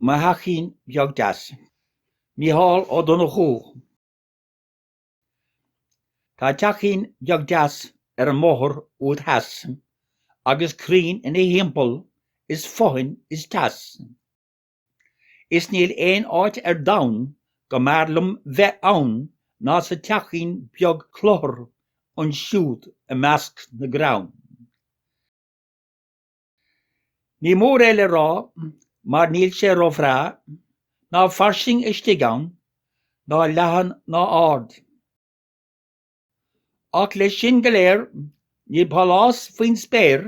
Mo theachín beag deas. Mícheál Ó Donnchadha. Tá teachín beag deas ar an mbóthar úd theas, agus crainn ina thimpeall is fothain is teas, is níl aon áit ar domhan go mb'fhearr liom bheith ann ná sa teachín beag cluthar ansiúd i measc na gcrann. Ní mór é le rá mar níl sé ró-bhreá, ná fairsing istigh ann, ná leathan ná ard. Ach leis sin go léir níl pálás faoin spéir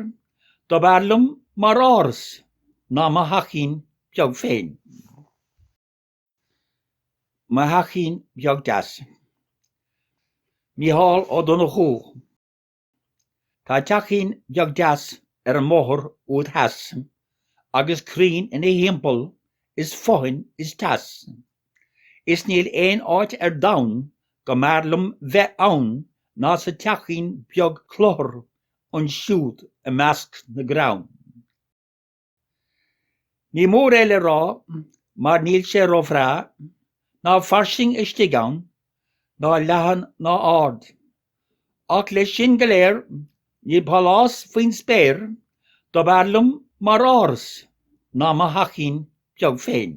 dob fhearr liom mar áras ná mo theachín beag féin. Mo theachín beag deas. Mícheál Ó Donnchadha. Tá teachín beag deas ar an mbóthar úd theas, Agus crainn ina thimpeall is fothain is teas, Is níl aon áit ar domhan go mb'fhearr liom bheith ann Ná sa teachín beag cluthar ansiúd i measc na gcrann. Ní mór é le rá mar níl sé ró-bhreá, ná fairsing istigh ann, ná leathan ná ard. Ach leis sin go léir, níl pálás faoin spéir dob fhearr liom mar áras ná mo theachín beag féin.